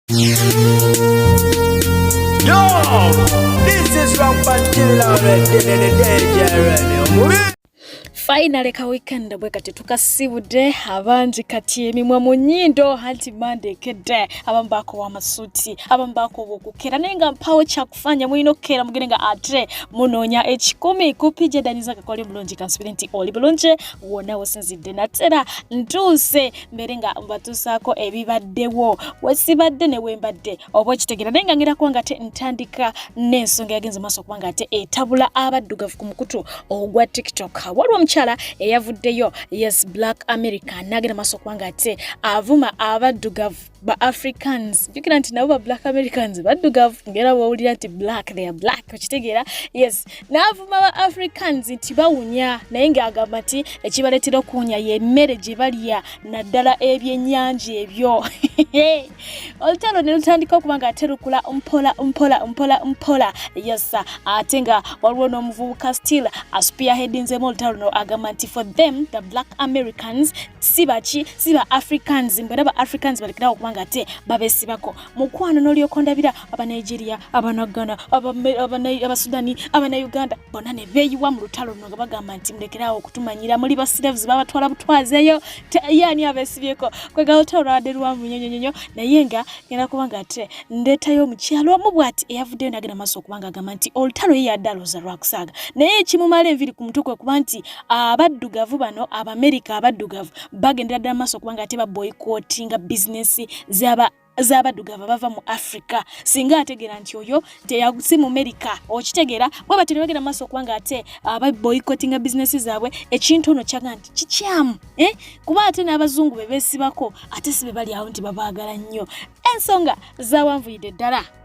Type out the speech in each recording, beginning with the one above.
Yo, this is Rampant Killer Red, the DJ Red, finally ka weekend bwe kati tukasibudde abangi kati emimwa mu nyindo anti mande ekedde abamu baakowa amasuuti abamu baakowa okukera naye nga mpawo kyaku fanya mulina okukeera mugende nga ate munoonya ekikumi ku pija daniza kakole bulungi kansubire nti oli bulungi wona wosinzidde natera ntuuse mbere nga mbatuusaako ebibaddewo wesibadde newembadde oba okitegera naye nga ngerakuba nga te ntandika n'ensonga yagenze maaso okuba nga ate etabula abaddugavu ku mukutu ogwa tiktok waliwo omukyala eyavuddeyo yes black america nagenda maaso okuba nga ate avuma abaddugavu ba africans jukira nti nabo ba black americans baddugavu ngera bwowulira nti black they are black okitegeera yes naavuma ba africans nti bawunya naye ngaagamba nti ekibaleetera okuwunya yemmere gye balya naddala ebyennyanja ebyo olutalo ne lutandika okuba nga ate lukula mpola mpola mpola mpola yes ate nga waliwo n'omuvubuka still aspearheadinzemu olutalo no agamba nti for them the black americans si baki si ba africans mbera ba africans balikira okuba nga te babesibako mukwano nolyoka ondabira aba nigeria aba nagana aba aba sudani aba na uganda bona ne beyiwa mu lutalo luno nga bagamba nti mulekerawo okutumanyira muli ba slaves babatwala butwazeyo yani abesibyeko kwegala olutalo lwabadde lwamu nyonyonyonyo naye nga ngenda kuba nga te ndetayo omukyalo omu bwati eyavuddeyo nagenda maaso okuba nga agamba nti olutalo ye yadde alooza lwakusaaga naye ekimumala enviri ku mutwe kwe kuba nti abaddugavu bano abamerika abaddugavu bagendera ddala maaso kubanga ate baboyikotinga bizinesi zaba z'abaddugavu bava mu africa singa ategeera nti oyo si mumerika okitegeera bwe batyo ne bagenda maaso okubanga ate ababoyikotinga ah, bizinesi zaabwe ekintu ono kyaga nti kikyamu eh? kuba ate n'abazungu be beesibako ate si be bali awo nti babaagala nnyo ensonga zawanvuyidde ddala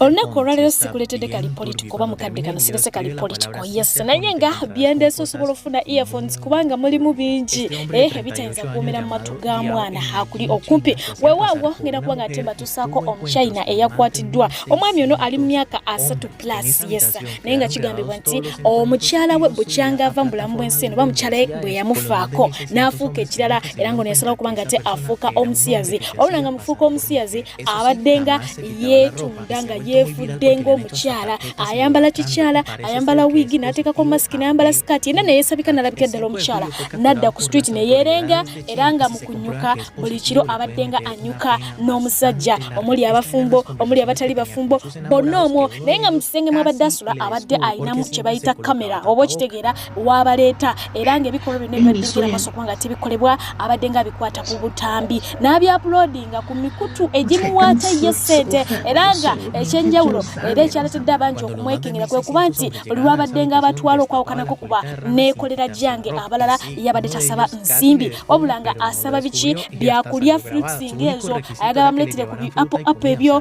olunaku olwaleero sikuletedde kali politiko oba mukadde kano sirese kali politiko yes naye nga byendeese osobola ofuna earphones kubanga mulimu bingi eh, ebitayinza kuumira mu matu ga mwana akuli okumpi wewaawo ngenda kuba nga ate mbatuusaako omuchina eyakwatiddwa omwami ono ali mu myaka asatu plus yes naye nga kigambibwa nti omukyala we bukyanga ava mu bulamu bw'ensi eno oba mukyala we bwe yamufaako n'afuuka ekirala era nga ono yasalawo kubanga ate afuuka omusiyazi olulanga mufuuka omusiyazi abadde nga yeetunda nga yeefudde ng'omukyala ayambala kikyala ayambala wiigi n'ateekako masiki n'ayambala sikaati yenna neyeesabika nalabika eddala omukyala n'adda ku street neyeerenga era nga mu kunyuka buli kiro abadde nga anyuka n'omusajja omuli abafumbo omuli abatali bafumbo bonna omwo naye nga mu kisenge mwabadde asula abadde ayinamu kye bayita kamera oba okitegeera wabaleeta era ng'ebikolwa byonna ebibaddukira maaso kubanga tebikolebwa abadde nga bikwata ku butambi n'abyapulodinga ku mikutu egimuwaata ye ssente era nga ekyenjawulo era ekyaletedde abangi okumwekengera kwe kuba nti buli lwabadde nga abatwala okwawukanako kuba neekolera gyange abalala yabadde tasaba nsimbi wabula nga asaba biki byakulya fruits ng'ezo ayagala bamuleetere ku biapo apo ebyo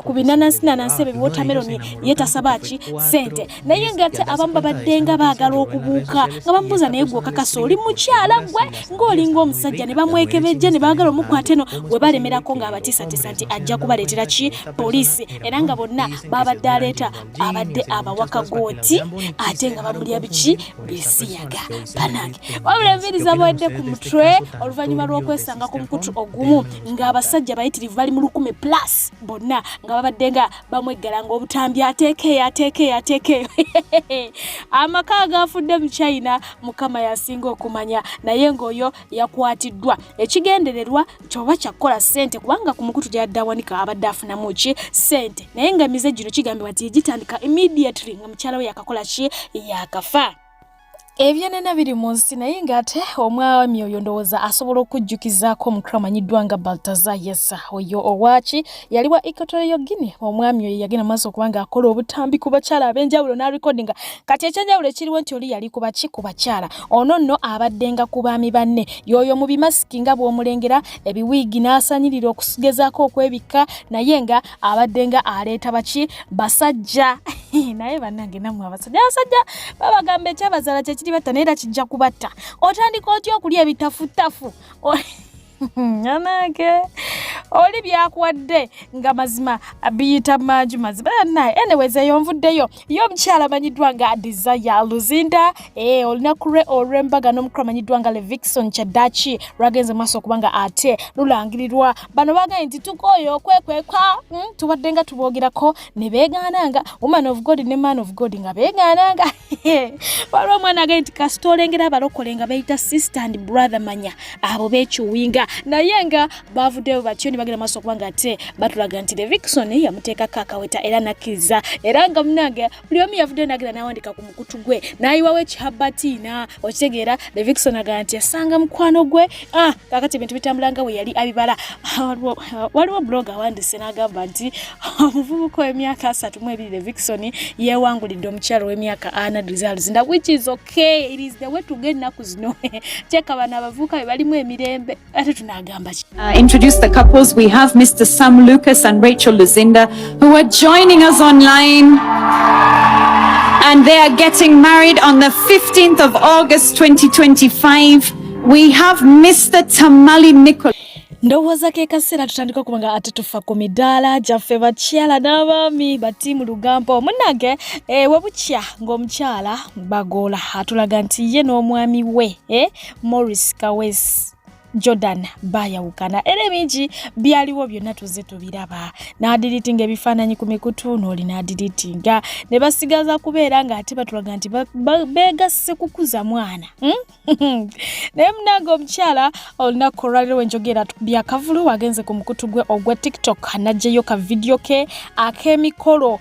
ku binanansinanansi ebyo biwotameroni ye tasaba ki ssente naye ngate abamu babaddenga baagala okubuuka nga bamubuuza naye gwokakasa oli mukyala gwe ng'olinga omusajja ne bamwekebejja ne baagala omukwata eno we balemerako ng'abatiisatiisa nti ajja kubaleetera ki poliisi era nga bonna baabadde aleeta abadde abawaka gooti ate nga bamulya biki bisiyaga banange wabula enviiri zabawadde ku mutwe oluvannyuma lw'okwesanga ku mukutu ogumu ng'abasajja bayitirivu bali mu lukumi plus bonna nga babadde nga bamweggala ng'obutambi ateeka eyo ateeka eyo ateeka eyo amaka agaafudde mu china mukama yasinga okumanya naye ng'oyo yakwatiddwa ekigendererwa kyoba kyakukola ssente kubanga ku mukutu gyadde awanika abadde afunamu ki ssente naye nga emize gino kigambibwa nti gitandika immediately nga mukyala we yakakola ki yakafa ebyenena biri mu nsi naye ng'ate omwami oyo ndowooza asobola okujjukizaako omukra amanyiddwa nga baltaza yesa oyo owaaki yali wa equatorio guine omwami oyo yagenda maaso okuba nga akola obutambi ku bakyala ab'enjawulo n'arekodinga kati ekyenjawulo ekiriwo nti oli yali kuba ki ku bakyala ono nno abaddenga ku baami banne yooyo mu bimasiki nga bw'omulengera ebiwiigi n'asanyirira okugezaako okwebikka naye nga abadde nga aleeta baki basajja naye banange namwe abasajja abasajja babagamba ekyabazala kyekiri batta naye era kijja kubatta otandika otya okulya ebitafutafu anange oli byakuwadde nga mazima biyita mangi mazima naye enewezeyo nvuddeyo ye omukyala amanyiddwa nga desire luzinda eh, olunaku lwe olw'embaga n'omukulu amanyiddwa nga levixon kyaddaaki lwagenze maaso okuba nga ate lulangirirwa bano bagambye nti tukooyo okwekwekwa hmm, tubadde nga tuboogerako ne beegaana nga woman of god ne man of god nga beegaana nga waliwo omwana agambye nti kasita olengera abalokole nga beeyita sister and brother manya abo beekiwinga naye nga baavuddeyo batyo ne bagenda maaso okubanga ate batulaga nti levixon yamuteekako akaweta era nakkiriza era nga munange buli omu yavuddeyo nagenda nawandika ku mukutu gwe nayiwawo ekihabatiina okitegeera levixon agamba nti yasanga mukwano gwe ah, kakati ebintu bitambula nga bwe yali abibala ah, waliwo blog awandise n'agamba nti omuvubuka ow'emyaka asatu mu ebiri levixon yeewangulidde omukyalo w'emyaka ana results nda which is okay it is the way to get ennaku zino kyekabana abavubuka be balimu emirembe ate tunagamba ki uh, introduce the couples we have mr sam lucas and rachel luzinda who are joining us online and they are getting married on the 15th of august 2025 we have mr tamali nicol ndowooza ke kaseera tutandika okuba nga ate tufa ku midaala gyaffe bakyala n'abaami batiimu lugambo munange eh, webukya ng'omukyala bagoola atulaga nti ye n'omwami we eh, Morris Kawesi Jordan baayawukana era ebingi byaliwo byonna tuzze tubiraba n'adiriitinga ebifaananyi ku mikutu n'oli n'adiriitinga ne basigaza kubeera ng'ate batulaga nti beegasse kukuza mwana hmm? naye munange omukyala olunaku olwaliro wenjogera byakavulu agenze ku mukutu gwe ogwa tiktok n'aggyeyo ka vidiyo ke ak'emikolo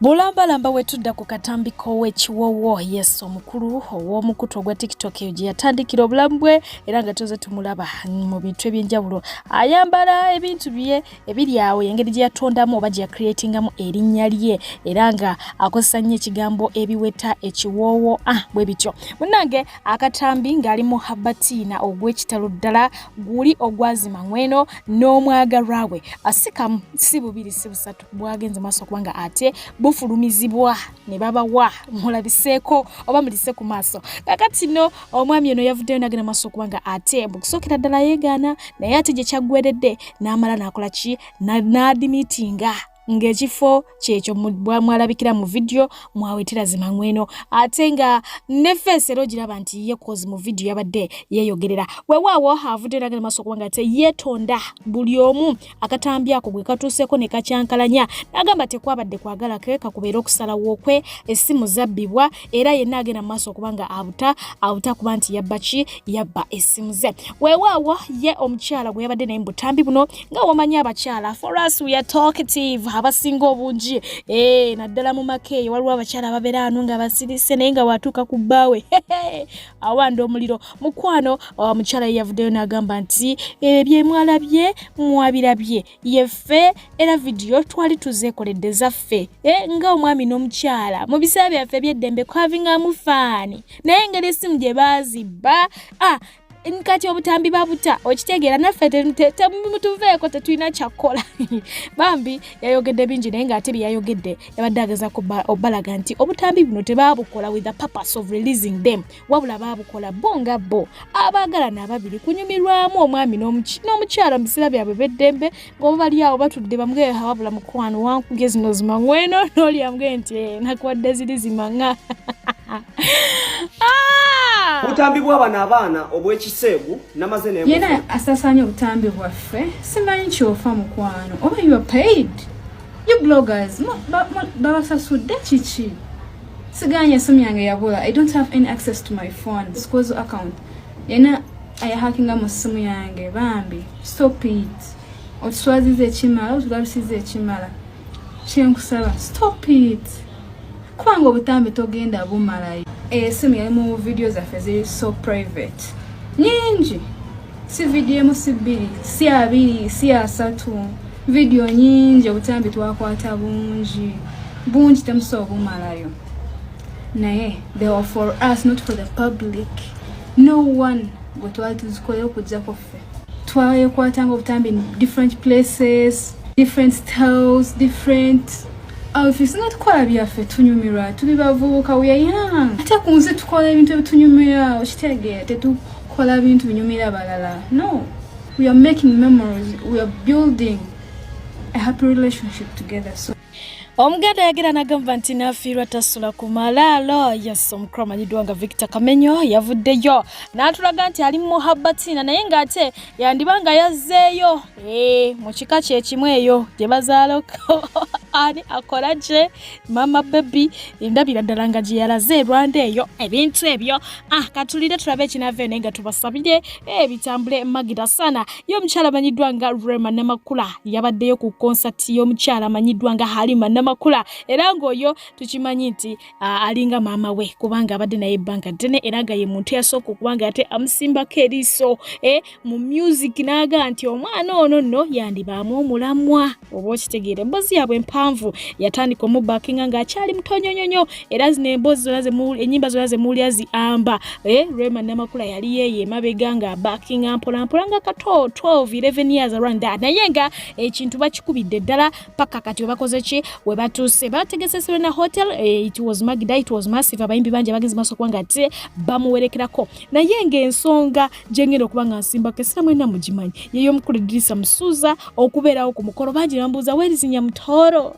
bulambalamba wetudda ku katambi k'owekiwowo yes omukulu ow'omukutu ogwa tiktok eyo gye yatandikira obulamu bwe era nga tuze tumulaba mu bintu eby'enjawulo ayambala ebintu bye ebiri awo yengeri gye yatondamu oba gye yacreatingamu erinnya lye era nga akozesa nnyo ekigambo ebiweta ekiwoowo ah bwe bityo munnange akatambi ng'ali mu habatiina ogw'ekitalo ddala guli ogwazima ng'weno n'omwagalwa we asikamu si bubiri si busatu bwagenze maaso okuba nga ate bufulumizibwa ne babawa mulabiseeko oba mulise ku maaso kakati no omwami ono yavuddeyo nagenda maaso okuba nga ate mukusookera ddala yeegaana naye ate gye kyaggweredde n'amala n'akola ki n'adimitinga ng'ekifo kyekyo mwalabikira mu vidiyo mwawetera zimangweno ate nga ne feesi era ogiraba nti ye kozi mu vidiyo yabadde yeeyogerera wewaawo avudde eraga ne maaso kubanga te yeetonda buli omu akatambi ako gwe katuuseeko ne kakyankalanya n'agamba tekwabadde kwagala ke kakubeera okusalawo kwe essimu zabbibwa era yenna agenda mu maaso okuba nga abuta abuta kuba nti yabba ki yabba essimu ze weewaawo ye omukyala gwe yabadde naye mu butambi buno nga wamanyi abakyala for us we are talkative abasinga obungi ee eh, naddala mu maka eyo waliwo abakyala ababeera anu nga basirise naye nga watuuka ku bbaawe awanda omuliro mukwano omukyala ye yavuddeyo n'agamba nti ebyo eh, emwalabye mwabirabye yeffe era vidiyo twali tuzeekoledde zaffe e, nga omwami n'omukyala mu biseera byaffe ebyeddembe kwavingamu faani naye engeri essimu gye baazibba ah, kati obutambi babuta okitegeera naffe temutuveeko tetulina kyakkola bambi yayogedde bingi naye ngaate byeyayogedde yabadde ageza obalaga nti obutambi buno tebabukola with the purpose of releasing them wabula baabukola bo nga bo abaagalana ababiri kunyumirwamu omwami n'omukyala mu biseera byabwe beddembe ng'oba bali awo batudde bamgeha wabula mukwano wankuge zino zimangweno n'olyamge nti eh, nakuwadde ziri zimanga ah! obutambi bw'abano abaana obw'ekiseegu namaze ne yena asasaanya obutambi bwaffe simanyi kyofa mukwano oba you are paid You bloggers, babasasudde kiki? Siganye esimu yange yabula. I don't have any access to my phone. Sikozo account. Yena ayahakinga mu simu yange bambi. Stop it. Otuswazize ekimala, otulabisize ekimala. Kyenkusaba, stop it. Kubanga obutambi togenda bumalayo. Esimu yali mu video zaffe ziri so private. Nyingi. si vidiyo emu si bbiri si abiri si asatu vidiyo nyingi obutambi twakwata bungi bungi temusobola obumalayo naye they were for us not for the public no one gwe twali tuzikolera okujjako ffe twayekwatanga obutambi in different places different styles different outfits nga tukola byaffe tunyumirwa tuli bavubuka we are young ate ku nsi tukola ebintu ebitunyumira okitegeera tetu kola bintu binyumira balala no we are making memories we are building a happy relationship together so omuganda yagera nagamba nti nafiirwa tasula ku malaalo yes omukulu amanyiddwa nga victor kamenyo yavuddeyo n'atulaga nti ali mu muhabbatiina naye ng'ate yandiba nga yazzeeyo Eh, mu kika kyekimu eyo gye bazaala ani akola gye mama bebi ndabira ddala nga gye yalaze erwanda eyo ebintu ebyo ah katulire tulabe ekinava ene nga tubasabire eh, bitambule magida sana ye omukyala amanyiddwa nga rema namakula yabaddeyo ku konsati y'omukyala amanyiddwa nga halima namakula era ng'oyo tukimanyi nti ah, alinga maama we kubanga abadde naye ebbanga ddene era nga ye muntu yasooka okubanga ate amusimbako eriiso eh, mu music n'agamba nti omwana ono nno yandibaamu omulamwa oba okitegeera emboozi yaabwe empanvu yatandika omubakinga ng'akyali mutonyonyonyo era zino emboozi zona ennyimba zona zemuwulira ziamba eh, rema namakula yali yeeyo emabega nga abakinga mpolampola nga kato 12 11 years around that naye nga ekintu bakikubidde ddala paka kati webakoze ki webatuuse bategese serena hotel eh, it was magda it was massive abayimbi bangi abagenzi maaso kuba nga ate bamuwerekerako naye ng'ensonga gyengenda okuba nga nsimbako esira mwena mugimanyi yeyo omukulu edirisa musuuza okubeerawo ku mukolo bangi bambuuza werizinya mutooro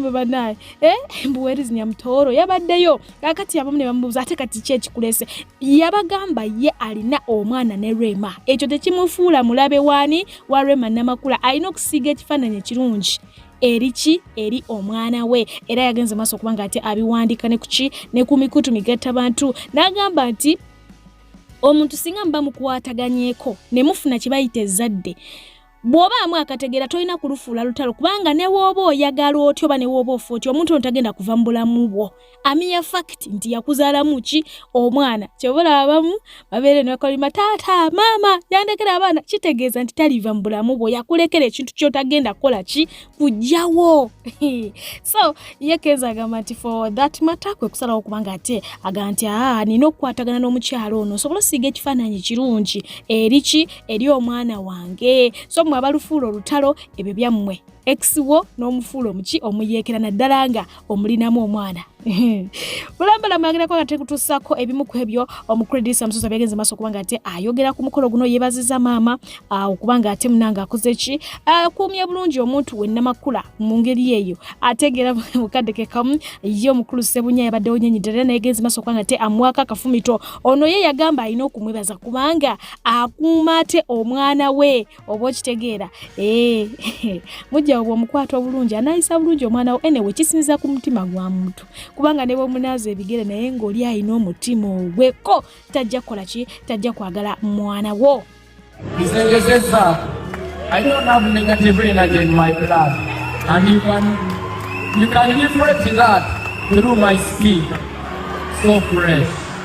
mwe banaye eh, mbu werizinya mutooro yabaddeyo kakati abamu ne bamubuuza ate kati ki ekikulese yabagamba ye alina omwana ne rema ekyo tekimufuula mulabe waani wa rema namakula alina okusiiga ekifaananyi ekirungi eriki eri omwana we era yagenze maaso okuba nga ate abiwandika nekuki ne ku mikutu migatta bantu n'agamba nti omuntu singa muba mukwataganyeko ne mufuna kye bayita ezzadde bw'obaamu akategeera tolina kulufuula lutalo kubanga ne wooba oyagala otya oba ne wooba ofa otya omuntu ono tagenda kuva mu bulamu bwo amiya fakiti nti yakuzaalamu ki omwana kyobola abamu babeere nekolima taata maama yandekera abaana kitegeeza nti taliva mu bulamu bwo yakulekera ekintu kyotagenda kukola ki kujjawo so ye kenza agamba nti for that matter kwe kusalawo kubanga ate aga nti aa ah, nina okukwatagana n'omukyalo ono osobola osiiga ekifaananyi kirungi eriki eri omwana wange so mwe abalufuula olutalo ebyo byammwe ex wo n'omufuula omuki omuyeekera naddala nga omulinamu omwana bulambala mwagerako nga tekutuusako ebimu ku ebyo omukuredisa musozi abyagenze maaso okuba nga ate ayogera ku mukolo guno yebaziza maama ah, okuba nga ate munanga akoze ki akuumye bulungi omuntu we namakula mu ngeri eyo ategeera mukadde ke kamu ye omukulu sebunya yabaddewo nyenyidde era nayegenze maaso okuba nga ate amwaka akafumito ono ye yagamba alina okumwebaza kubanga akuuma ate omwana we oba okitegeera eh, mujjawo bwomukwata obulungi anayisa bulungi omwana wo enewe kisinza ku mutima gwa muntu kubanga ne bwomunaaza ebigere naye ng'oli alina omutima ogweko tajja kukola ki tajja kwagala mwana wo I don't have negative energy in my blood. And you can, you can liberate that through my skin. So fresh.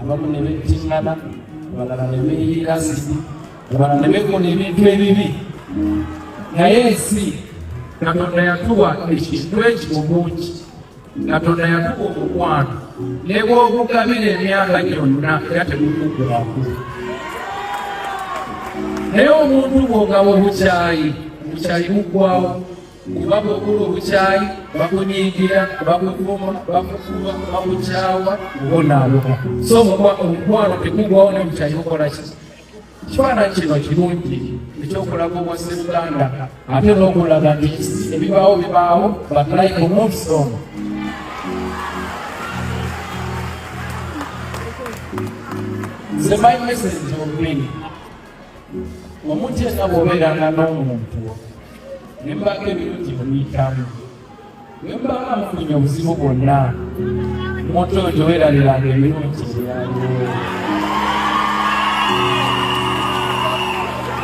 abamu ne bettingana abalala ne beeyiira ziti abalala ne bekola ebintu ebibi naye ensi katonda yatuwa ekintu eki obungi katonda yatuwa omukwano ne bwogugabira emyaka gyonna era tegukuggwako naye omuntu bwogaba obukyayi obukyayi buggwawo kuba bw'ogula obukyayi bakunyiigira bakuvuma bakukuba bakukyawa obonaaboka so omukwano tekugwawo ne bukyayi bukola ki kifaananyi kino kirungi ekyokulaga obwa sseruganda ate n'okulaga nti ebibaawo bibaawo but like moves on nze my message ogwini omuntu yenna bwobeeranga n'omuntu ne mubanga ebirungi muyitamu ne mubanga mufunye obuzibu bwonna omuntu oyo teweerabiranga ebirungi byaliwo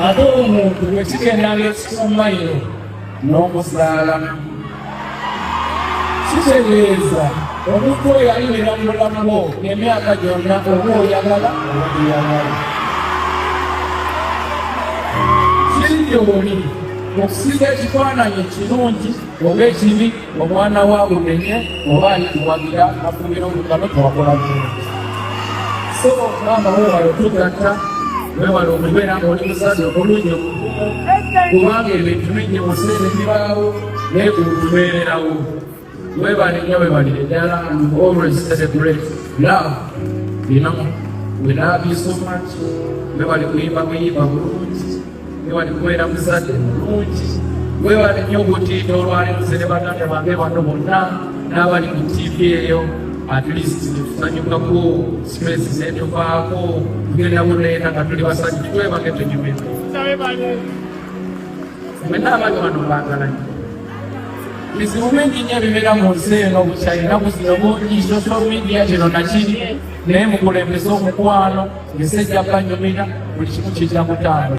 ate omuntu bwekigendanga ekikumayiro n'omuzaalamu kitegeeza omuntu oyo yalibeera mu bulamu bwo emyaka gyonna oba oyagala obaiyagala kiryoni okusiga ekifaananyi ekirungi oba ekibi omwana wa bumenye oba alikuwagira afumira omugano tewakola bulungi so maama wewala otugatta wewala okubeera ngaoli muzazi omulungi omukumu kubanga ebintu bingi museera ebibaawo ne ku kubeerawo webale nyo webale eddala and always celebrate love bino we love you so much webale kuyimba kuyimba bulungi webale kubeera muzadde bulungi webale nyo obutiito olwaleero ze ne baganda bange bano bonna n'abali ku tivi eyo at least tusanyukako stress zetuvaako tugenda buneera nga tuli basajja twebage tunyumire mwenna abali wano mbagalanye bizibu bingi nnyo ebibeera mu nsi eno bukyalina buzino bungi social media kino nakiri naye mukulembeza omukwano nsi ejja banyumira buli kimu kijja kutambula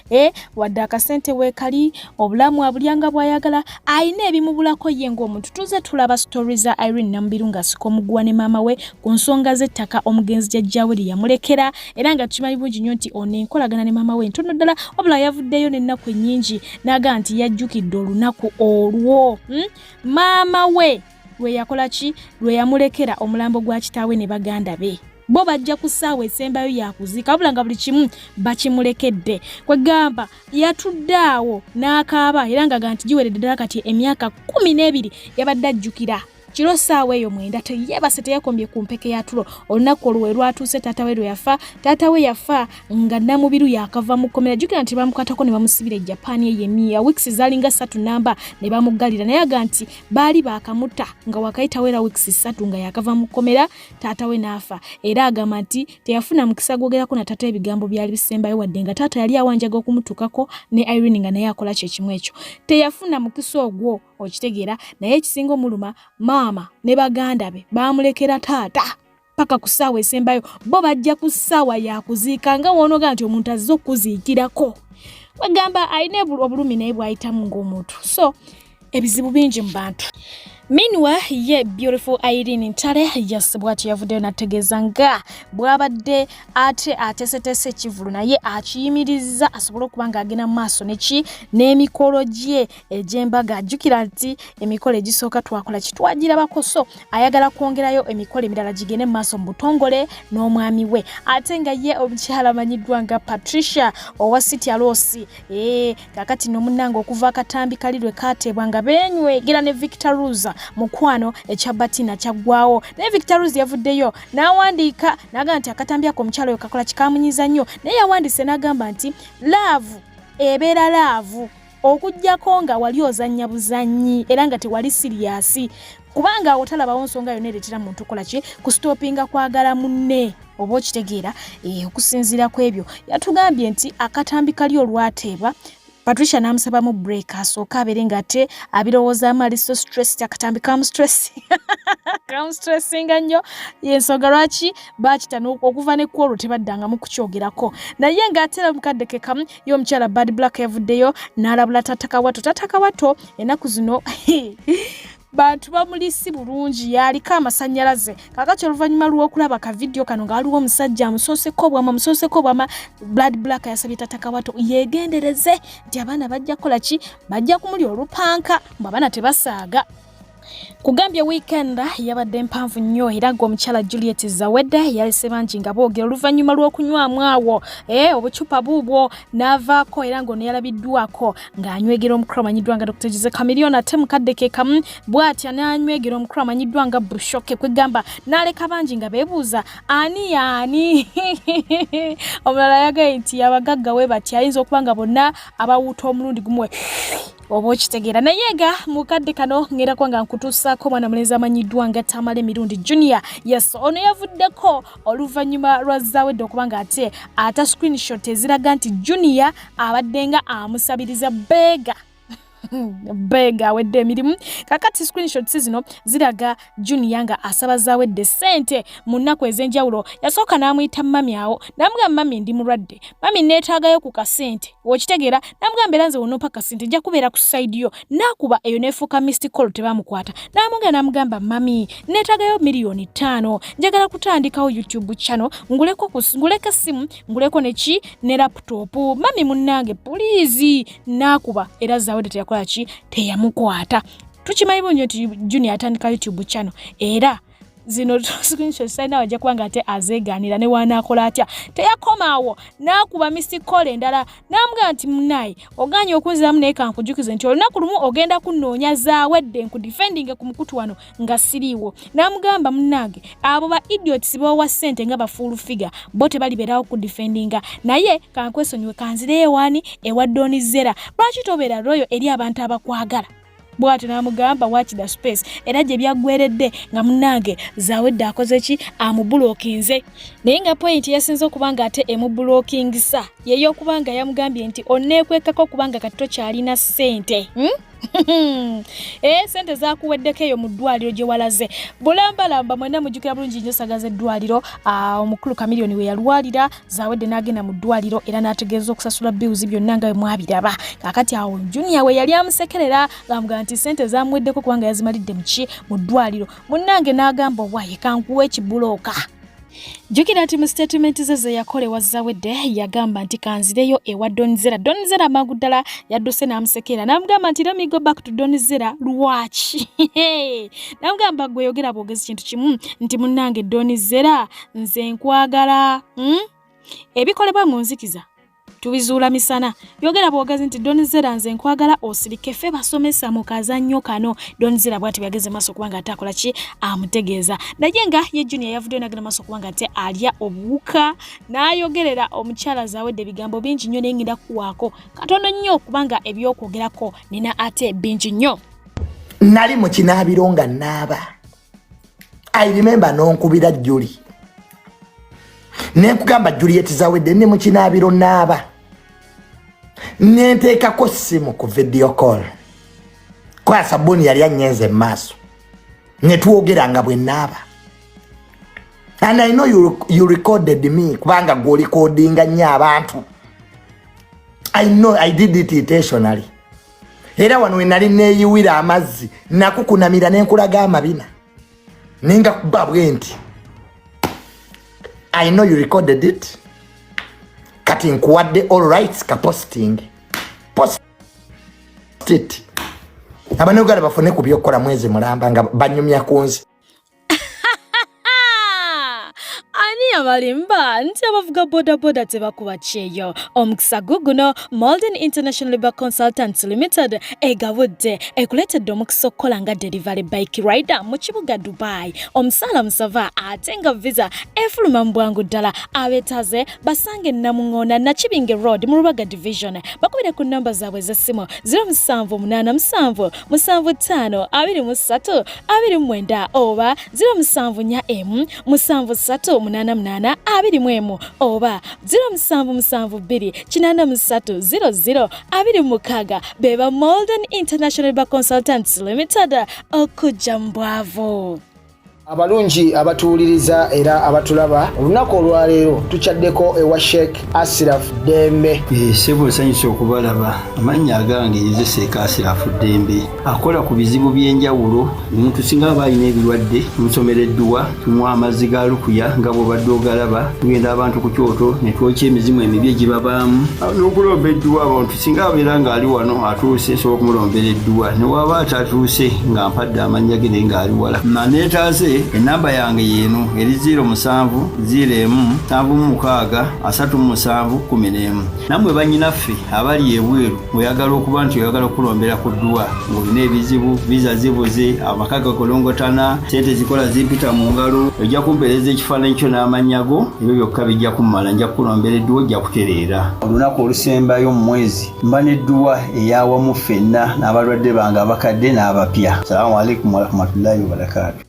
Eh, wadde akasente weekali obulamu abulya nga bwayagala alina ebimubulako ye ng'omuntu tuze tulaba sitori za irene namubiru ng'asika omuguwa ne maama we ku nsonga z'ettaka omugenzi jajjaawe lye yamulekera era nga tukimanyi bulungi nnyo nti ono enkolagana ne maama we ntono ddala wabula yavuddeyo n'ennaku ennyingi n'aga nti yajjukidde olunaku olwo hmm? maama we lwe yakola ki lwe yamulekera omulambo gwa kitaawe ne baganda be bo bajja ku ssaawa esembayo yakuziika wabula nga buli kimu bakimulekedde kwegamba yatudde awo n'akaaba era ngaga nti giweredde ddala kati emyaka kumi n'ebiri yabadde ajjukira kiro ssaawa eyo mwenda teyebase teyakombye ku mpeke ya tulo olunaku olwo we lwatuuse taata we lwe yafa taata we yafa nga namubiru yakava mu kkomera jjukira nti bamukwatako ne bamusibira e japan eyo emiya wiks zalinga ssatu namba ne bamuggalira naye aga nti baali baakamuta nga wakayitawo era weeks ssatu nga yakava mu kkomera taata we n'afa era agamba nti teyafuna mukisa gwogerako na taata ebigambo byali bisembayo wadde nga taata yali awanjaga okumutuukako ne irene nga naye akola kye kimu ekyo teyafuna mukisa ogwo okitegeera naye ekisinga omuluma maama ne baganda be baamulekera taata paka ku ssaawa esembayo bo bajja ku ssaawa yakuziika nga woonoga nti omuntu azze okukuziikirako wegamba alina obulumi naye bwayitamu ng'omuntu so ebizibu bingi mu bantu minwa ye beautiful irene ntale yes bwati yavuddeyo nategeeza nga bwabadde ate ateeseteese ekivulu naye akiyimiriza asobole okuba ng'agenda mu maaso neki n'emikolo gye egy'embaga ajjukira nti emikolo egisooka twakola kitwagirabako so ayagala kwongerayo emikolo emirala gigende mu maaso mu butongole n'omwami we ate nga ye omukyala amanyiddwa nga patricia owa city alosi ee eh, kakati nomunanga okuva akatambi kali lwe kateebwa nga benywegera ne victor ruza mukwano ekya batina kyaggwawo naye victor ruza yavuddeyo n'awandiika n'agamba nti akatambi ako omukyala oyo kakola kikamunyiza nnyo naye yawandiise n'agamba nti laavu ebeera laavu okujjako nga wali ozannya buzannyi era nga tewali siriyasi kubanga awo talabawo nsonga yona eretera muntu kola ki kusitopinga kwagala munne oba okitegeera eh, okusinziira ku ebyo yatugambye nti akatambi kali olwateebwa patricia n'amusabamu break asooka abeere nga ate abirowoozaamu ali so stress akatambi kamustress kamustressinga nnyo yensonga lwaki bakita okuva ne kwolwo tebaddangamu kukyogerako naye ng'ate era omukadde kekamu yo omukyala bad black yavuddeyo n'alabula tatakawato tatakawato enaku zino bantu bamuli si bulungi yaliko amasanyalaze kakati oluvannyuma lw'okulaba ka vidiyo kano nga waliwo omusajja amusooseko bwama musooseko bwama blood black yasabye tatakawato yeegendereze nti abaana bajja kukola ki bajja kumuli olupanka mbu abaana tebasaaga kugambye weekend yabadde mpanvu nnyo era nga omukyala juliet zawedde yalese bangi nga boogera oluvannyuma lw'okunywamu awo e obucupa buubwo n'avaako era nga ono yalabiddwako ng'anywegera omukulu amanyiddwa nga dr jose camilion ate mukadde ke kamu bw'atya n'anywegera omukulu amanyiddwa nga bushoke kwegamba n'aleka bangi nga beebuuza ani yaani omulala yagaye nti abagagga we batya ayinza okuba nga bonna abawuuta omulundi gumuwe oba okitegeera naye nga mukadde kano ngerako nga nkutuusaako omwana mulenzi amanyiddwa nga tamala emirundi junior yes ono yavuddeko oluvannyuma lwa zawedde okuba nga ate ata screenshot eziraga nti junior abadde nga amusabiriza beega beega awedde emirimu kakati screenshots zino ziraga Junior nga asaba zawedde ssente mu nnaku ez'enjawulo yasooka n'amuyita mami awo n'amugamba mami ndi mulwadde mami neetaagayo ku kasente okitegeera n'amugamba era nze wonompa kasente nja kubeera ku sayidi yo n'akuba eyo n'efuuka misti col tebamukwata n'amugenda n'amugamba mami neetaagayo miliyoni ttaano njagala kutandikawo youtube channel nguleko nguleko essimu nguleko neki ne laputopu mami munnange puliizi n'akuba era zawedde teyakola ki teyamukwata tukimanyi bunyo nti junior atandika youtube channel era zino screenshot sayina wajja kuba nga ate azeegaanira ne waanaakola atya teyakomaawo n'akuba misi kola endala n'amugamba nti munaye oganye okunziramu naye kankujukize nti olunaku lumu ogenda kunnoonya zaawedde nkudifendinge ku mukutu wano nga siriiwo n'amugamba munnange abo ba idiots bowa sente nga bafuulu figa bo tebaliberawo ku defendinga naye kankwesonyiwe kanzire ewani ewa doni zera lwaki tobera royo eri abantu abakwagala bwati namugamba waki the space era gye byaggweredde nga munange zawedde akoze ki amubulokinze naye nga pointi yasinze okuba nga ate emubulokingisa yeyo okuba nga yamugambye nti oneekwekako kubanga kati tokyalina ssente hmm? ee eh, sente zakuweddeko eyo mu ddwaliro gye walaze bulambalamba mwena mujjukira bulungi nyo saga z'eddwaliro ah, omukulu kamiliyoni we yalwalira zawedde n'agenda mu ddwaliro era n'ategeeza okusasula bills byonna nga mwabiraba kakati awo junior we yali amusekerera ng'amuga nti sente zamuweddeko kubanga yazimalidde muki mu ddwaliro munnange n'agamba owaye kankuwa ekibulooka jjukira nti mu sitatimenti ze ze yakola ewa zawedde yagamba nti kanzireyo ewa donizera donizera amangu ddala yadduse n'amusekeera n'amugamba nti remigo back to donizera lwaki n'amugamba gweyogera bwogezi kintu kimu nti munnange donizera nze nkwagala hmm? ebikolebwa mu nzikiza tubizuula misana yogera bwogezi nti donizera nze nkwagala osirike fe basomesa mu kazannyo kano donizera bwati bwageze maaso kubanga ate akola ki amutegeeza naye nga ye junior yavuddeyo nagenda maaso kubanga ate alya obuwuka n'ayogerera omukyala zawedde ebigambo bingi nnyo naye ngenda kuwaako katono nnyo kubanga ebyokwogerako nina ate bingi nnyo nali mu kinaabiro nga naaba i remember nonkubira juli nenkugamba juliet zawedde ne mukinaabiro naaba nenteekako simu ku video call kwa sabuni yali anyenze mumaaso netwogeranga bwe naaba and i know you, you recorded me kubanga gwolikodinga nnyo abantu i know i did it intentionally era wano we nali neeyiwira amazzi nakukunamira ne nkulaga amabina naye nga kuba bwe nti i know you recorded it kati nkuwadde all rights ka posting post it abanayuganda bafune ku byokukola mwezi mulamba nga banyumya ku nsi ani yabalimba nti abavuga bodaboda tebakuba kyeyo omukisa guguno molden international labor consultants limited egabudde ekuleetedde omukisa okukola nga delivery bike rider mu kibuga dubai omusaala musava ate nga visa efuluma mu bwangu ddala abetaze basange namungona nakibinge road mu rubaga division bakubire ku namba zaabwe ez'essimu 0787752329 oba 0747838821 oba 0777283026 beba molden international ba consultants limited okujja mu bwavu abalungi abatuwuliriza era abatulaba olunaku olwaleero tukyaddeko ewa sheik asiraf dembe eh, sebo nsanyusa okubalaba amannya agange yezeseeka asiraf dembe akola ku bizibu by'enjawulo omuntu singa aba alina ebirwadde musomera edduwa tunywa amazzi ga lukuya nga bwobadde ogalaba tugenda abantu ku kyoto netwokya emizimu emibi egibabaamu n'okulomba edduwa abantu singa abeera ng'ali wano atuuse nsobola okumulombera edduwa ne waaba atatuuse nga mpadde amannya ge naye ng'ali wala maneetaaze ennamba yange yeeno eri 0 musanvu 0 emu nsanvu mu mukaaga asatu mu musanvu kumi n'emu nammwe bannyinaffe abali ebweru oyagala okuba nti oyagala okulombera ku dduwa ng'olina ebizibu viza zibuze amaka gakolongotana sente zikola zimpita mu ngalo ojja kumpeereza ekifaananyi kyo n'amannya go ebyo byokka bijja kummala nja kukulombera edduwa ojja kutereera olunaku olusembayo mu mwezi mba n'edduwa eyawamu ffenna n'abalwadde bange abakadde n'abapya salaamu aleikum warahmatullahi wabarakaatu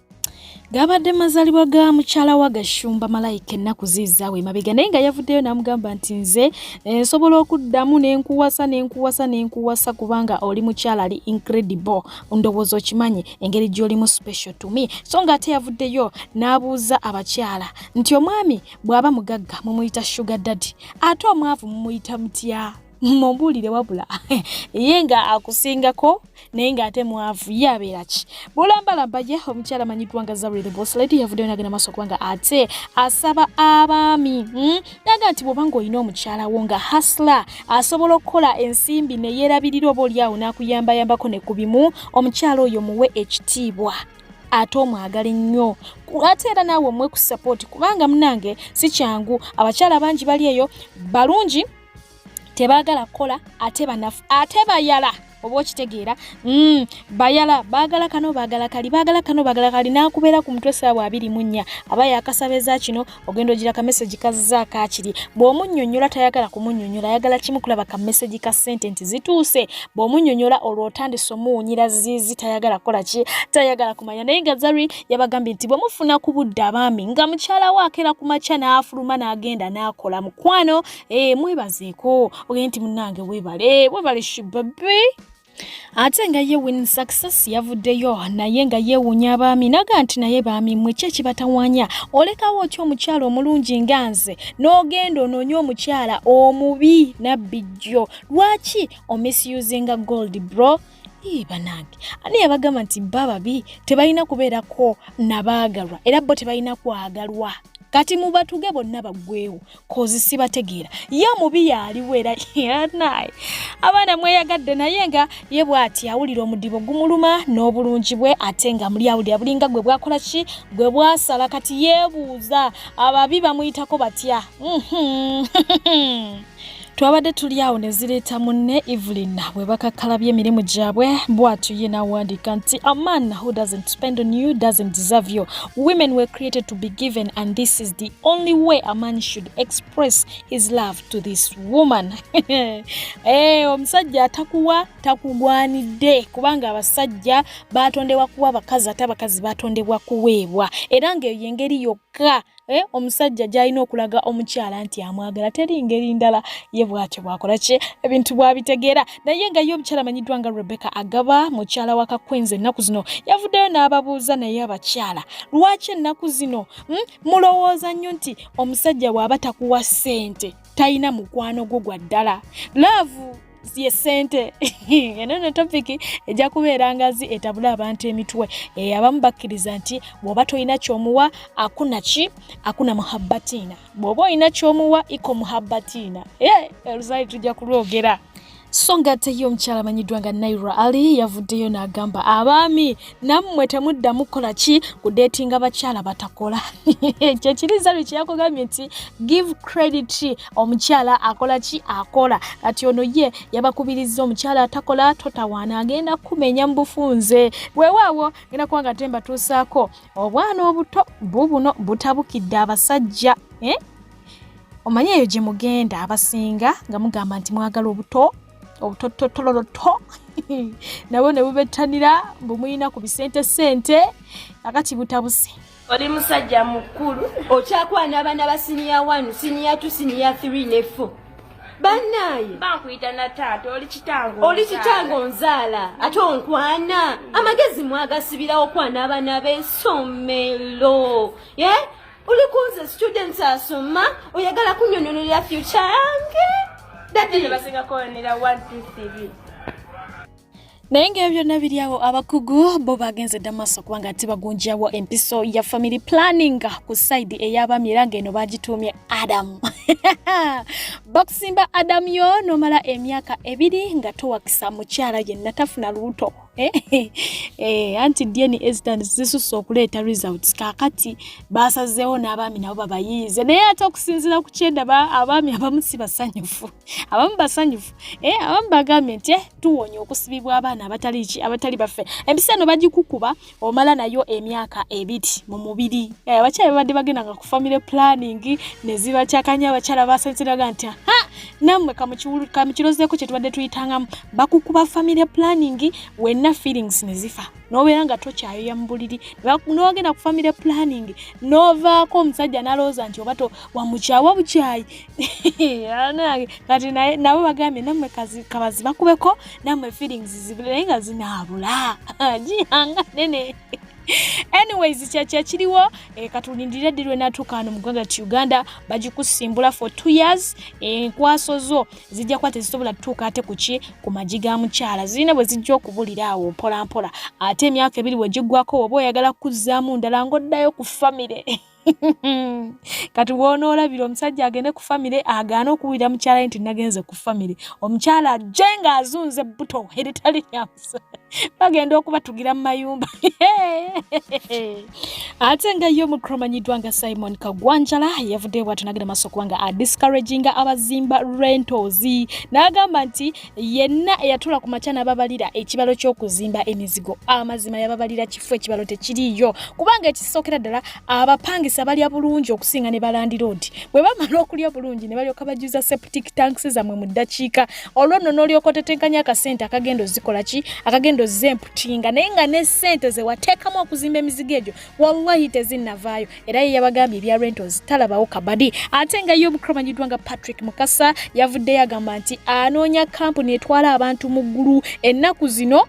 gaabadde mazalibwa ga mukyala wa gashumba malayika ennaku ziizaawo emabega naye nga yavuddeyo n'amugamba nti nze eh, nsobola okuddamu nenkuwasa nenkuwasa nenkuwasa kubanga oli mukyala ali incredible ndowooza okimanyi engeri gy'olimu special to me so nga ate yavuddeyo n'abuuza abakyala nti omwami bw'aba mugagga mumuyita sugar daddy ate omwavu mumuyita mutya mumbuulire wabula ye nga akusingako naye ng'ate mwavu ye abeera ki bulambalamba ye omukyala amanyiddwa nga zawulire boslady yavuddeyo nagenda maaso kubanga ate asaba abaami hmm? naga nti bwoba ng'olina omukyala wo nga hasla asobola okukola ensimbi neyeerabirira oba olyawo n'akuyambayambako ne ku bimu omukyala oyo muwe ekitiibwa ate omwagala ennyo ate era naawe omwe ku sapooti kubanga munange si kyangu abakyala bangi bali eyo balungi tebaagala kukola ate banafu ate bayala oba okitegeera mm, bayala baagala kano baagala kali baagala kano baagala kali n'akubeera ku mutwe saawa abiri mu nnya aba yakasaba eza kino ogenda ogira kamesegi kazza akakiri bw'omunyonyola tayagala kumunyonyola ayagala kimu kulaba kamesegi ka sente nti zituuse bw'omunyonyola olwo otandise omuwunyira ziizi tayagala kukola ki tayagala kumanya naye nga zari yabagambye nti bwemufuna ku budde abaami nga mukyala we akeera ku makya n'afuluma n'agenda n'akola mukwano e, mwebazeeko ogende nti munnange webale webale shibabe ate nga ye win success yavuddeyo naye nga yeewuunya abaami naga nti naye baami mwe ki ekibatawanya olekawo otya omukyala omulungi nga nze n'ogenda onoonye omukyala omubi nabbi jjo lwaki omisusinga gold bro banange ani yabagamba nti ba babi tebalina kubeerako nabaagalwa era bo tebalina kwagalwa kati mubatuge bonna baggwewo kozi sibategeera ye omubi yaaliwo era yanaye abaana mweyagadde naye nga ye bwati awulira omudibo gumuluma n'obulungi bwe ate nga muli awulira bulinga gwe bwakola ki gwe bwasala kati yeebuuza ababi bamuyitako batya mhm. twabadde tuli awo ne zireeta munne evelyn bwe bakakkalabya emirimu gyabwe bwatyo ye n'awandiika nti aman who doesn't spend on you doesn't deserve you Women were created to be given, and this is the only way a man should express his love to this woman. hey, eh, omusajja atakuwa takugwanidde kubanga abasajja baatondebwa kuwa bakazi ate abakazi baatondebwa kuweebwa era ng'eyo y'engeri yokka eh, omusajja gy'alina okulaga omukyala nti amwagala teri ngeri ndala ye bw'atyo bw'akola ki ebintu bw'abitegeera naye nga ye omukyala amanyiddwa nga rebecca agaba mukyala wa kakwenzi ennaku zino yavuddeyo n'ababuuza naye abakyala lwaki ennaku zino hmm, mulowooza nnyo nti omusajja waaba takuwa ssente talina mukwano gwo gwa ddala laavu ye ssente eno no topiki ejja kubeera ngazi etabula abantu emitwe eh, abamu bakkiriza nti bw'oba tolina kyomuwa akuna ki akuna muhabbatiina bw'oba olina ky'omuwa iko muhabbatiina e eruzaali tujja kulwogera so ng'ate ye omukyala amanyiddwa nga naira ali yavuddeyo n'agamba abaami nammwe temuddamu kukola ki kudeetinga bakyala batakola ekyo kiriza lwe kyeyakugambye nti give credit omukyala akola ki akola kati ono ye yabakubiriza omukyala atakola totawaana agenda kumenya mu bufunze weewaawo ngenda kuba nga te mbatuusaako obwana obuto bubuno butabukidde abasajja eh? omanyi eyo gye mugenda abasinga nga mugamba nti mwagala obuto obutototololoto nabwo ne bubettanira bumuyina ku bisente sente akati butabuse oli musajja mukulu okyakwana abaana ba siniya 1 siniya 2 siniya 3 ne 4 banaye bankuyita na taata oli kitango oli kitango nzaala ate onkwana amagezi mwagasibirawo kwana abana besomero ye yeah? oli kunze students asoma oyagala kunyonyonolera future yange dadi naye nga ebyo byonna biri awo abakugu bo bagenze dda maaso kubanga ati bagunjawo empiso ya family planning ku saidi ey'abaami era ng'eno bagituumye adamu bakusimba adamu yo nomala emyaka ebiri nga towakisa mukyala yenna tafuna lubuto eh, eh, eh, anti dna ezitan zisusa okuleeta results kakati basazeewo n'abaami nabo babayiize naye ate okusinziira ku kyendaba abaami abamu si basanyufu abamu basanyufu eh, abamu bagambye nti eh, tuwonye okusibibwa abaana abatali ki abatali baffe empisa eno bagikukuba omala nayo emyaka ebiri mu mubiri eh, abakyala babadde bagenda nga ku family planning nezibakyakanya abakyala basanyusiraga nti ha nammwe kamukirozeeko kyetubadde tuyitangamu bakukuba family planning wenna feelings nezifa nobeera nga tokyayoya mu buliri nogenda ku family planning novaako omusajja nalowooza nti oba wamukyawa bukyayi kati nabo bagambye namwe kabazi bakubeko namwe feelings zibule naye nga zinaabula giyanga nene anyways kyakya kiriwo eh, katulindire ddi lwenatuuka wano mu ggwanga ti uganda bagikusimbula for two years eh, enkwaso eh, zo zijja kuba tezisobola tutuuka ate kuki ku magi ga mukyala zirina bwe zijja okubulira awo mpolampola ate emyaka ebiri bwe giggwako oba oyagala kuzzaamu ndala ng'oddayo ku famire kati wonoolabira omusajja agende ku famire agaana okuwulira mukyala ye nti nagenze ku famire omukyala ajje nga azunze buto eritali lyamusa bagenda okubatugira mu mayumba ate nga ye omukulu omanyiddwa nga simon kagwanjala yavuddeyo bwatunagenda maaso kubanga adiscouraginga abazimba rentos n'agamba nti yenna eyatula ku makya n'ababalira ekibalo ky'okuzimba emizigo amazima yababalira kifu ekibalo tekiriyo kubanga ekisookera ddala abapangisa balya bulungi okusinga ne balandiroodi bwe bamala okulya obulungi ne balyoka bajjuza septic tanks zammwe mu ddakiika olwo nno n'olyoka otetenkanya akasente akagenda ozikola ki akagenda ozza emputinga naye nga ne sente ze wateekamu okuzimba emizigo egyo wallahi tezinnavaayo era ye yabagambye ebya rentals talabawo kabadi ate nga ye omukulu amanyiddwa nga patrick mukasa yavuddeyo agamba nti anoonya kampuni etwala abantu mu ggulu ennaku zino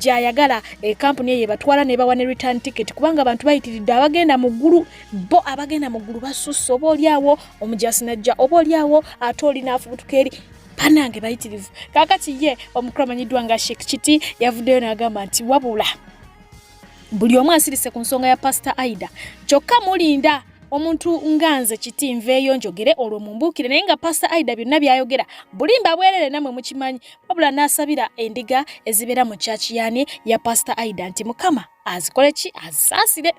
gyayagala ekampuni eh, eyo ebatwala nebawa ne return ticket kubanga abantu bayitiridde abagenda mu ggulu bo abagenda mu ggulu basusse oba olyawo omujasi najja oba olyawo ate olinaafubutuka eri banange bayitirivu kakati ye omukulu amanyiddwa nga shek kiti yavuddeyo n'agamba nti wabula buli omu asirise ku nsonga ya pasita aida kyokka mulinda omuntu nga nze kiti nveeyo njogere olwo mumbuukire naye nga pasita aida byonna byayogera bulimba bwerere namwe mukimanyi wabula n'asabira endiga ezibeera mu kyakiyani ya pasita aida nti mukama azikole ki azisaasire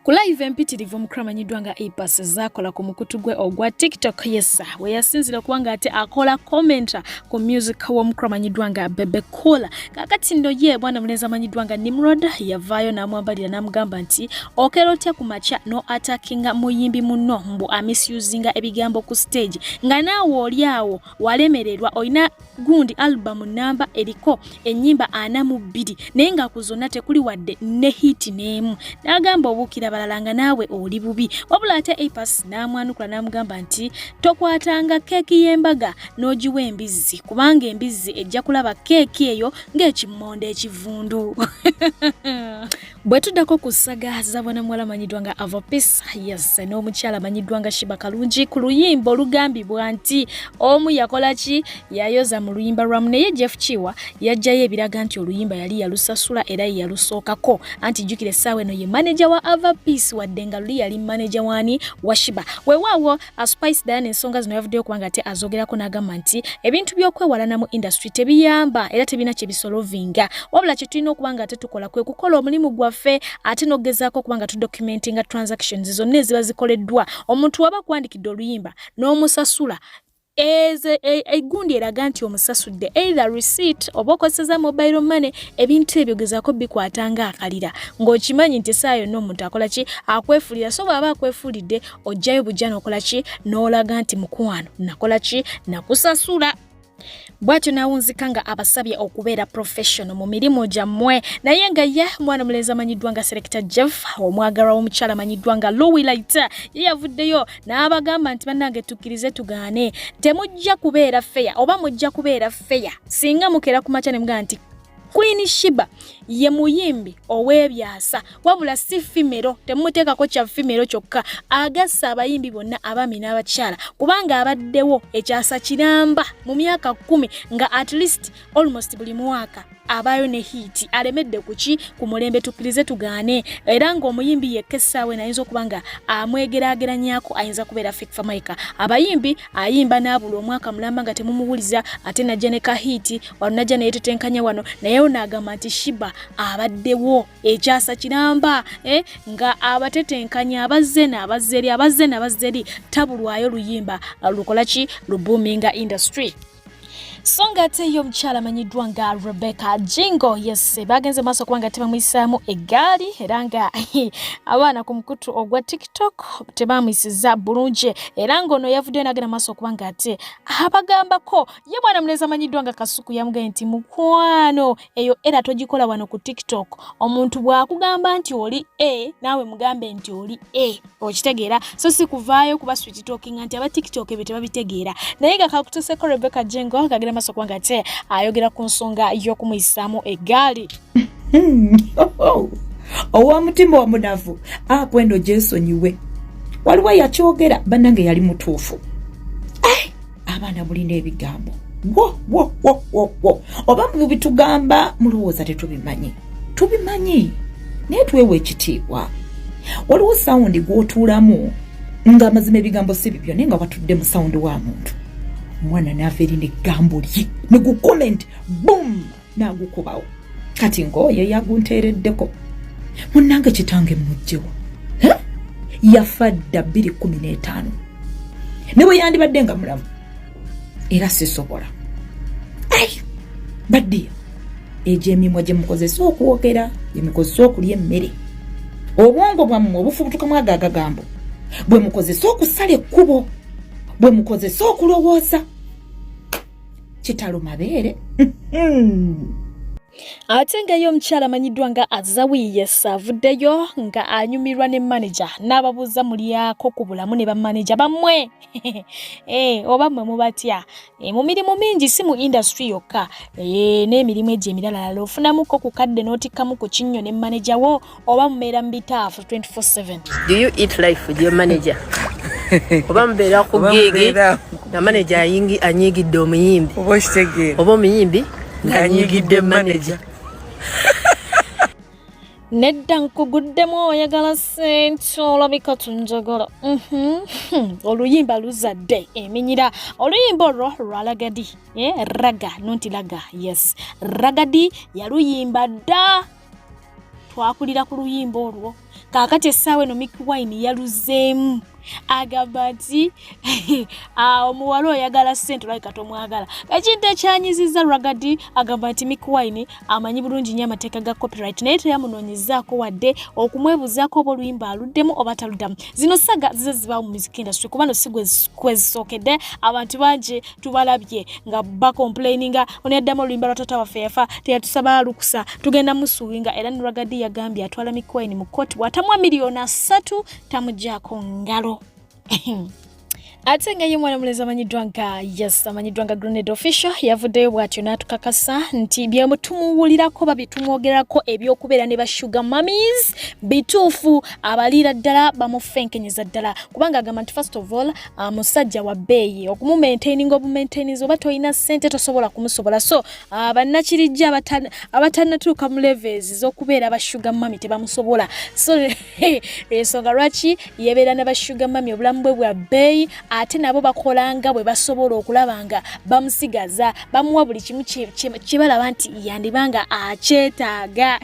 Ku live empitirivu omukulu amanyiddwa nga Apas zaakola ku mukutu gwe ogwa TikTok yesa we yasinzira okuba ng'ate akola commenta ku music w'omukulu amanyiddwa nga Bebe Cool. Kaakati nno ye bwana mulenzi amanyiddwa nga Nimrod yavaayo n'amwambalira n'amugamba nti okera otya ku makya no atakinga muyimbi munno mbu amisuzinga ebigambo ku stage nga naawe oli awo walemererwa olina gundi album namba eriko enyimba ana mu bbiri naye nga ku zonna tekuli wadde ne hiti n'emu n'agamba obuukira balala nga naawe oli bubi wabula ate apas n'amwanukula n'amugamba nti tokwatanga keeki y'embaga n'ogiwa embizzi kubanga embizzi ejja kulaba keeki eyo ng'ekimmonde ekivundu bwe tuddako ku ssaga zabona muwala amanyiddwa nga avopis yes n'omukyala amanyiddwa nga shiba kalungi ku luyimba olugambibwa nti omu yakola ki yayoza mu luyimba lwamu naye jeff kiwa yajjayo ebiraga nti oluyimba yali yalusasula era ye yalusookako anti jjukira essaawa eno ye maneja wa avapis wadde nga luli yali maneja waani wa shiba wewaawo A Spice Diana ensonga zino yavuddeyo kubanga ate azogerako n'agamba nti ebintu by'okwewalana mu industry tebiyamba era tebina kye bisolovinga wabula kye tulina okuba nga ate tukola kwe kukola omulimu gwaffe ate n'okugezaako okuba nga tudocumentinga transactions zonna eziba zikoleddwa omuntu waba kwandikidde oluyimba n'omusasula egundi eraga nti omusasudde either receipt oba okozeseza mobile money ebintu ebyo gezako bikwata nga akalira ng'okimanyi nti esaayo yonna omuntu akola ki akwefulira so bw'aba akwefulidde ojjayo bujja nokola ki n'olaga nti mukwano nakola ki nakusasula bwatyo nawunzika nga abasabye okubeera professional mu mirimu gyammwe naye nga ye mwana mulenzi amanyiddwa nga selecta jeff omwagalwa w'omukyala amanyiddwa nga lowilit ye yavuddeyo n'abagamba nti bannange tukkirize tugaane temujja kubeera feya oba mujja kubeera feya singa mukeera ku makya ne mugamba nti Queen Shiba ye muyimbi ow'ebyasa wabula si fimero temumuteekako kya fimero kyokka agasse abayimbi bonna abaami n'abakyala kubanga abaddewo ekyasa kiramba mu myaka kkumi nga at least almost buli mwaka abaayo ne hiiti alemedde kuki ku mulembe tukkirize tugaane era ng'omuyimbi yekka essaawa eno ayinza okuba nga amwegerageranyako ayinza kubeera fikfamaica abayimbi ayimba n'abula omwaka mulamba nga temumuwuliza ate najja ne kahiiti wano najja naye tetenkanya wano naye ono agamba nti shiba abaddewo ekyasa kiramba eh? nga abatetenkanya abazze naabazzeri abazze naabazzeri tabulwayo luyimba lukola ki lubuuminga industry so ng'ate ye omukyala amanyiddwa nga rebecca jingo yes bagenze maaso kuba nga tebamuyisaamu eggaali era nga abaana ku mukutu ogwa tiktok tebamuyisiza bulungi era ng'ono yavuddeyo nagenda maaso okuba nga ate abagambako ye mwana mulezi amanyiddwa nga kasuku yamugambye nti mukwano eyo era togikola wano ku tiktok omuntu bw'akugamba nti oli a naawe mugambe nti oli a okitegeera so si kuvaayo kuba swit talking nti aba tiktok ebyo tebabitegeera naye nga kakuteseko rebecca jengo kagenda maaso kubanga te ayogera ku nsonga y'okumuyisaamu eggaali owa mutima omunavu akwendo ah, gyesonyiwe waliwo yakyogera bannange yali mutuufu abaana mulina ebigambo oba mubitugamba mulowooza tetubimanyi tubimanyi naye twewa ekitiibwa waliwo sawundi gwotuulamu nga amazima ebigambo si bibyo naye nga watudde mu sawundi wa muntu omwana naava eri neggambo lye negucomment boom nagukubawo kati ng'oyo yagunteereddeko munnange kitange mujjewo yafa dda bbiri kumi n'etaano ne bwe yandibadde nga mulamu era sisobola ai baddiya egyo emimwa gye mukozesa okwogera gye mukozesa okulya emmere obwongo bwammwe obufubutukamu ago agagambo bwe mukozesa okusala ekkubo bwe mukozesa okulowooza kitalo mabeere ate nga ye omukyala amanyiddwa nga azawiyes avuddeyo nga anyumirwa ne maneja n'ababuuza mulyako ku bulamu ne bamaneja bammwe eh, oba mmwe mubatya eh, mu mirimu mingi si mu indasitry yokka eh, n'emirimu egyo emiralala ofunamuko ku kadde n'otikkamu ku kinnyo ne maneja wo oba mubeera mu bitaafu 24/7 do you eat life with your manager oba mubeera ku gigi nga manager anyiigidde omuyimbi oba omuyimbi ng'anyiigidde manager nedda nkuguddemu oyagala sente olabika tunjagala mhm. oluyimba luzadde eminyira oluyimba olwo lwalagadi eh, raga nonti laga yes ragadi yaluyimba dda twakulira ku luyimba olwo kaakati essaawa eno miki wine yaluzeemu agamba nti ah, omuwala oyagala sente olabika tomwagala ekintu ekyanyiziza ragadi agamba nti miki wine amanyi bulungi nnyo amateeka ga copyright naye teyamunoonyezaako wadde okumwebuzaako oba oluyimba aluddemu oba taluddamu zino saga zize zibaawo mu miziki industry kuba no si kwezisookedde abantu bangi tubalabye nga bacomplaininga ono yaddamu oluyimba lwa tata waffe yafa teyatusaba lukusa tugenda musuwinga era ne ragadi yagambye atwala mikwayini mu kooti bwatamuwa miliyoni asatu tamugyako ngalo ate nga ye mwana mulezi amanyiddwa nga yes amanyiddwa nga grenade official yavuddeyo bw'atyo n'atukakasa nti byemutumuwulirako babitumwogerako ebyokubeera ne bashuga mamis bituufu abaliira ddala bamufenkenyeza ddala kubanga agamba nti first of all uh, musajja wa bbeeyi okumumaintaininga obumaintaininzi oba tolina ssente tosobola kumusobola so uh, bannakirijja abatanatuuka mu levels z'okubeera abashuga mami tebamusobola so ensonga lwaki yebeera na bashuga mami obulamu bwe bwa bbeeyi ate nabo bakolanga bwe basobola okulaba nga bamusigaza bamuwa buli kimu kyebalaba nti yandibanga akyetaaga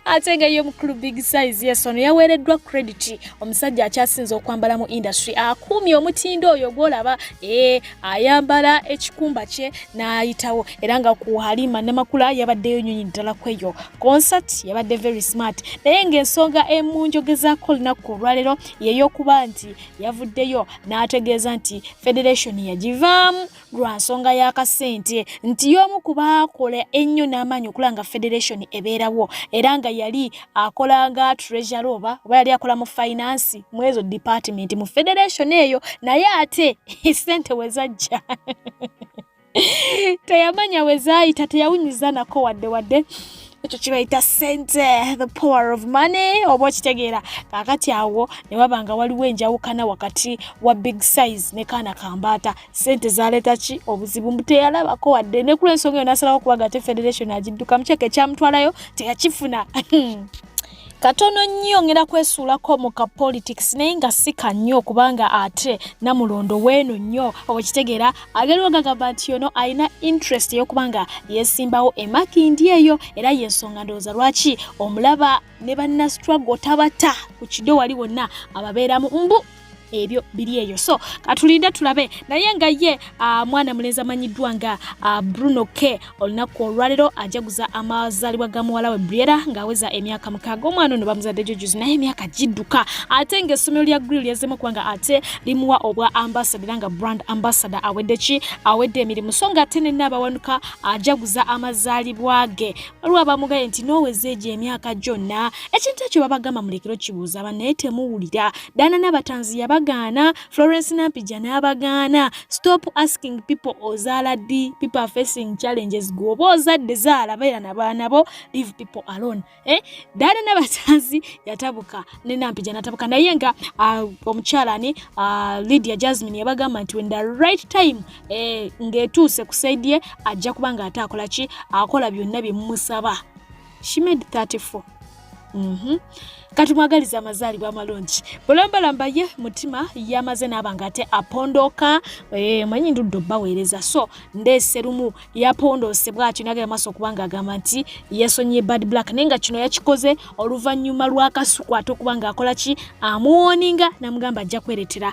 ate nga ye omukulu big size yes ono yaweereddwa credit omusajja akyasinze okwambala mu industry akuumye omutindo oyo gwolaba ee eh, ayambala ekikumba kye n'ayitawo era nga ku halima namakula yabaddeyo nyonyi ddala kweyo concert yabadde very smart naye ng'ensonga emunjogezaako olunaku olwaleero yeyokuba nti yavuddeyo n'ategeeza nti federation yagivaamu lwa nsonga y'akasente nti y'omu ku baakola ennyo n'amaanyi okulaba nga federation ebeerawo era nga yali akola nga treasure oba oba yali akola mu finance mu ezo department mu federation eyo naye ate sente we zajja teyamanya we zaayita teyawunyiza nako wadde wadde ekyo kibayita sente the power of money oba okitegeera kakati awo ne waba nga waliwo enjawukana wakati wa big size ne kaana kambaata sente zaleeta ki obuzibu mbu teyalabako wadde ne kula ensonga eyo nasalawo okuba gate federation agiddukamu kyeka ekyamutwalayo teyakifuna katono nnyo ngenda kwesuulako mu ka politics naye nga si ka nnyo kubanga ate namulondo weeno nnyo okitegeera agaliwo gagamba nti yono alina interest eyokubanga yesimbawo emakindi eyo era yensonga ndowooza lwaki omulaba ne banna struggle tabata ku kido wali wonna ababeeramu mbu ebyo biri eyo so katulinde tulabe naye nga ye ah, mwana mulenzi amanyiddwa nga ah, bruno k olunaku olwalero ajaguza amazalibwa ga muwala we briera ng'aweza emyaka mukaaga omwana ono bamuzadde jojuzi naye emyaka gidduka ate ng'essomero lya grill yazemu kubanga ate limuwa obwa ambasada era nga brand ambasada awedde ki awedde emirimu so nga ate nenna abawanuka ajaguza amazalibwa ge waliwo abamugaye nti noweza egyo emyaka gyonna ekintu ekyo babagamba mulekero kibuuza banaye temuwulira Dana Nabatanzi yabagaana, Florence Nampija n'abagaana. Stop asking people ozaala ddi, people are facing challenges. Gwe oba ozadde zaala beera na baana bo, leave people alone. Eh? Dana Nabatanzi yatabuka ne Nampija natabuka naye nga uh, omukyala ani uh, Lydia Jasmine yabagamba nti when the right time eh, ng'etuuse ku side ye ajja kuba ng'ate akola ki akola byonna bye mumusaba. she made 34 mm -hmm. kati mwagaliza amazaalibwa amalungi bulambalamba ye mutima yamaze naaba nga ate apondoka e, manyi ndudde obaweereza so ndeese lumu yapondoose bwatyo nagera maaso okuba nga agamba nti yesonyiye bad black naye nga kino yakikoze oluvannyuma lwakasuku ate okuba nga akola ki amuwoninga namugamba ajja kweretera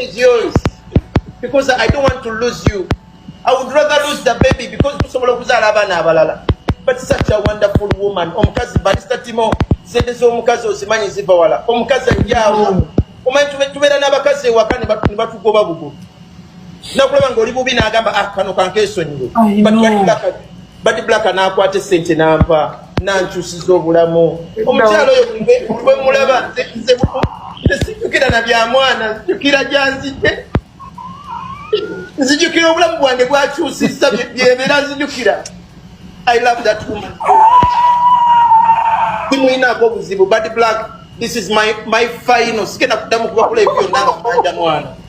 is yours because I don't want to lose you. I would rather lose the baby because tusobola okuzaala abaana abalala. But such a wonderful woman. Omukazi Barista Timo sente z'omukazi ozimanyi ziva wala. Omukazi ajjaawo. Omanyi tubeera n'abakazi ewaka ne batugoba bugo. Nakulaba ng'oli bubi n'agamba ah kano kankeesonyiwe. But badi black anakwata esente nampa nankyusiza obulamu omukyalo oyo bwemulaba nzekira na bya mwana nzijukira gyanzijde nzijukira obulamu bwange bwakyusiza byebera nzijukira i love that woman simuyinaako obuzibu badi black this is my, my final sigenda kuddamu kubakola ebyonna nga manja mwana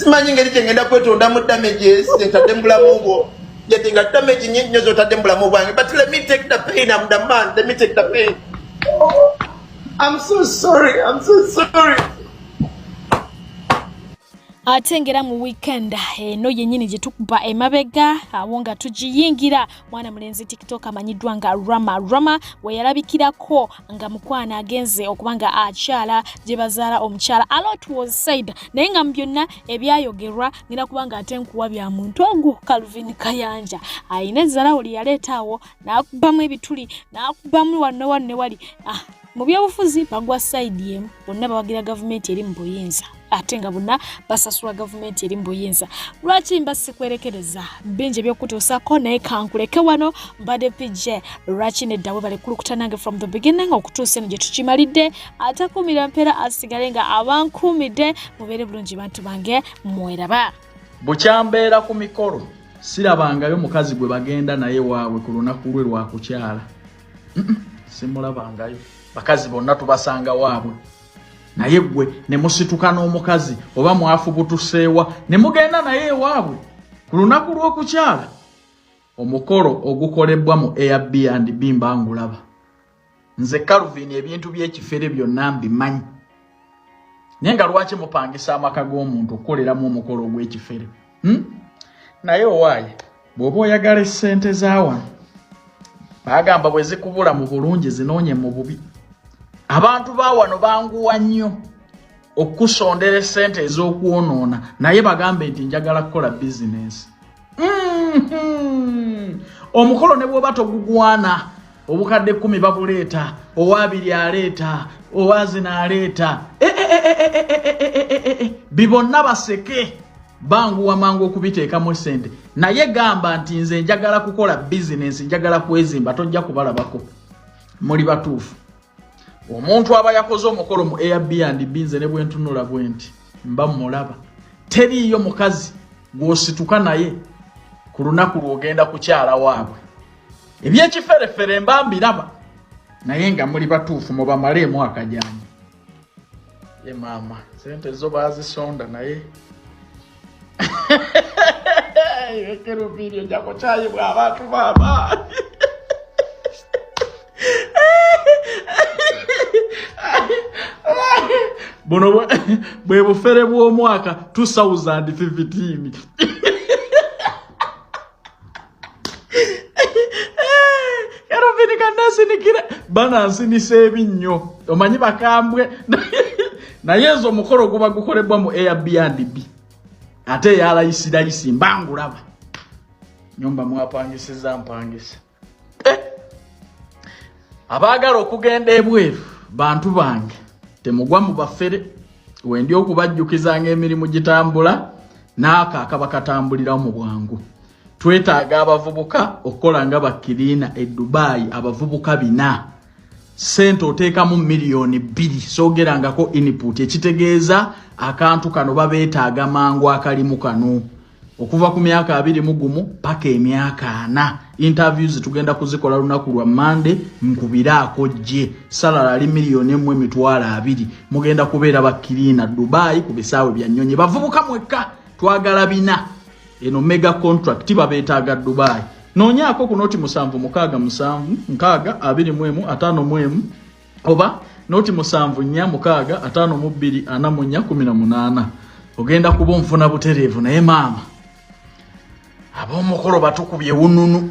simanyi ngeri kyengenda kwetonda mu damages ntadde mu bulamu bwo yadde nga damage nyingi nyo zotadde mu bulamu bwange but let me take the pain am the man let me take the pain I'm so sorry I'm so sorry ate ngera mu weekend eno eh, yennyini gye tukuba emabega awo nga tugiyingira mwana mulenzi tiktok amanyiddwa nga rama rama weyalabikirako nga mukwano agenze okuba nga akyala gye bazaala omukyala alot was said naye nga mu byonna ebyayogerwa ngenda kuba nga ate nkuwa bya muntu ogwo calvin kayanja alina ezzalawo lye yaleeta awo n'akubamu ebituli n'akubamu wanne wanne wali ah, mu byobufuzi bagwa sayidi emu bonna bawagira gavumenti eri mu buyinza ate nga bonna basasulwa gavumenti eri mu buyinza lwaki mba sikwerekereza bingi ebyokutuusako naye kankuleke wano mbadde pj lwaki neddawe balekulukuta nange from the beginning okutuusa eno gye tukimalidde atakuumira mpeera asigale nga abankuumidde mubeere bulungi bantu bange mweraba bukyambeera ku mikolo sirabangayo mukazi gwe bagenda naye waabwe ku lunaku lwe lwakukyala simulabangayo bakazi bonna tubasanga waabwe naye gwe ne musituka n'omukazi oba mwafubutuseewa ne mugenda naye ewaabwe ku lunaku lw'okukyala omukolo ogukolebbwa mu airbnb mba ngulaba nze calvin ebintu by'ekifere byonna mbimanyi naye nga lwaki mupangisa amaka g'omuntu okukoleramu omukolo ogw'ekifere hmm? naye owaaye bw'oba oyagala essente zawano bagamba bwe zikubula mu bulungi zinoonye mu bubi abantu bawano banguwa nnyo okusondera esente ez'okwonoona naye bagambe nti njagala kukola bizinensi mm-hmm. omukolo ne bwoba togugwana obukadde kumi babuleeta owabiri aleeta owazina aleeta bibonna baseke banguwa mangu okubiteekamu esente naye gamba nti nze njagala kukola bizinensi njagala kwezimba tojja kubalabako muli batuufu omuntu aba yakoze omukolo mu airbnb binze ne bwentunula bwe nti mba mulaba teriiyo mukazi gwosituka naye ku lunaku lwogenda kukyala waabwe ebyekiferefere mba mbiraba naye nga muli batuufu mubamale emwaka gyange ye maama sente zo bazisonda naye ekerubiiri ojako kyayi bwabantu maama buno bwe bufere bw'omwaka 2015 kero vinika nasinikira bana nsinisa ebinnyo omanyi bakambwe naye ezo omukolo guba gukolebwa mu airbnb ate eyalayisirayisi mbangulaba nyumba mwapangisiza mpangisa eh! abaagala okugenda ebweru bantu bange temugwa mu bafere wendi okubajjukizanga emirimu gitambula naako akaba katambulirawo mu bwangu twetaaga abavubuka okukola nga bakiriina e dubai abavubuka bina sente oteekamu miliyoni bbiri soogerangako input ekitegeeza akantu kano babeetaaga mangu akalimu kano okuva ku myaka abiri mu gumu paka emyaka ana interviews tugenda kuzikola lunaku lwa mande nkubire akojje salala ali miliyoni emu emitwalo abiri mugenda kubeera bakiriina dubai ku bisaawe bya nnyonyi bavubuka mwekka twagala bina eno mega contract babetaaga dubai noonyaako ku noti musanvu mukaaga musanvu nkaaga abiri mu emu ataano mu emu oba noti musanvu nnya mukaaga ataano mu bbiri ana mu nnya kumi na munaana ogenda kuba onfuna butereevu naye maama ab'omukolo batukubye wununu